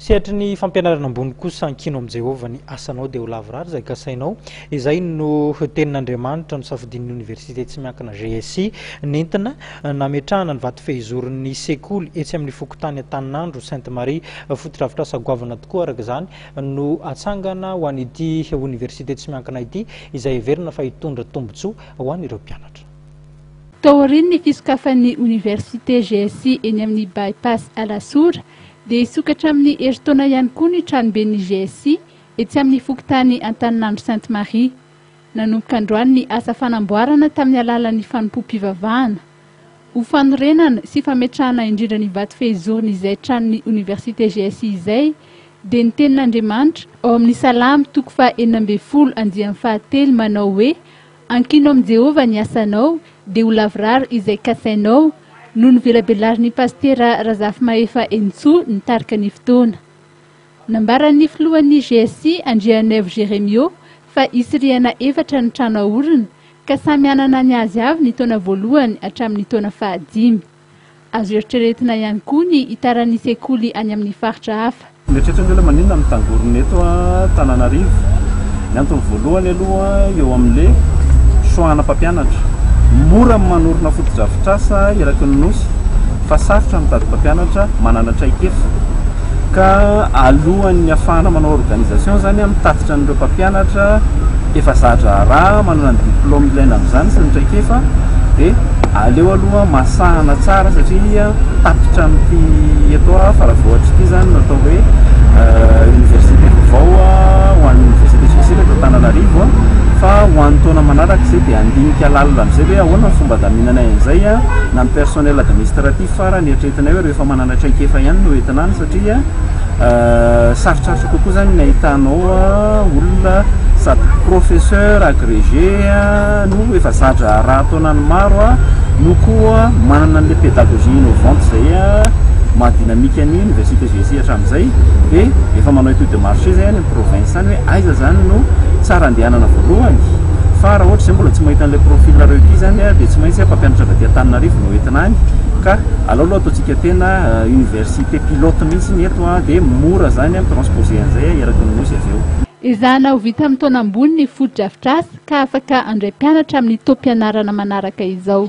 Sehatry ny fampianarana ambony kosa, ankino amin'i Jehovah ny asanao dia ho lavorary izay kasainao. Izay no Tenin'Andriamanitra nosafidian'ny Oniversite tsy miankina GSI nentina nametrahana ny vato fehizoron'ny sekoly etsy amin'ny fokontany Antaninandro Sainte Marie. Fotodrafitrasa goavana tokoa araka izany no atsangana ho an'ity Oniversite tsy miankina ity izay heverina fa hitondra tombontsoa ho an'ireo mpianatra. Taorian'ny fisokafan'ny Oniversite GSI eny amin'ny By-pass Alasora, Dia hisokatra amin'ny herintaona ihany koa ny tranoben'ny GSI etsy amin'ny fokontany Antaninandro Sainte Marie. Nanomboka androany ny asa fanamboarana tamin'ny alalan'ny fanompoam-pivavahana. Ho fanorenana sy fametrahana indrindra ny vato fehizorn'izay tranon'ny Oniversite GSI izay, dia ny tenin'Andriamanitra, ao amin'ny Salamo toko faha enina ambin'ny folo andiany fahatelo manao hoe, Ankino amin'i Jehovah ny asanao dia ho lavorary izay kasainao, no novelabelarin'ny pasitera Razafimahefa Henintsoa nitarika ny fotoana. Nambaran'ny filohan'ny GSC, Andrianaivo Jeremio, fa hisy rihana efatra ny trano haorina, ka samy hanana ny azy avy ny taona voalohany hatramin'ny taona fahadimy. Azo eritreretina ihany koa ny hitaran'ny sekoly any amin'ny faritra hafa. Mieritreritra ny hoe maninona no mitangorona eto Antananarivo. Ny antony voalohany aloha eo amin'le choix ana mpampianatra. Mora ny manorina fotodrafitrasa eraky ny Nosy fa sarotra ny mitady mpampianatra manana traikefa. Ka alohan'ny hahafahana manao organisation izany, mitatitra an'ireo mpampianatra efa za-draharaha, manana ny diplôme ilaina amin'izany sy ny traikefa, dia aleo aloha masahana tsara satria tapitra amin'ity eto Faravohitra ity izany no atao hoe Université vao ho an'ny Université Jesosy eto Antananarivo fa ho an'ny taona manaraka izay dia handinika lalina amin'izay hoe ahoana ny fomba hadaminanay an'izay na ny personnel administratif farany eritreretinay hoe rehefa manana Ana traikefa ihany no entina any satria sarotsarotra kokoa zany ny ahitanao olona sady professeur agrege no efa zadra raha taonany maro no koa manana anle pedagogie innovante zay maha dynamique ny université GSI hatramizay de efa manao étude de marché zay any province any hoe aiza zany no tsara andehanana voalohany fa raha ohatra zay mbola tsy mahita anle profil requis zany de tsy maintsy mpampianatra avy aty Antananarivo no entina any. Ka alao aloha ataontsika tena université pilote mihitsy ny eto an, dia mora izany an, mi-transposer an'izay eraky ny Nosy avy eo. Ezahina ho vita amin'ny taona ambony ny fotodrafitrasa ka afaka handray mpianatra amin'ny taom-pianarana manaraka izao.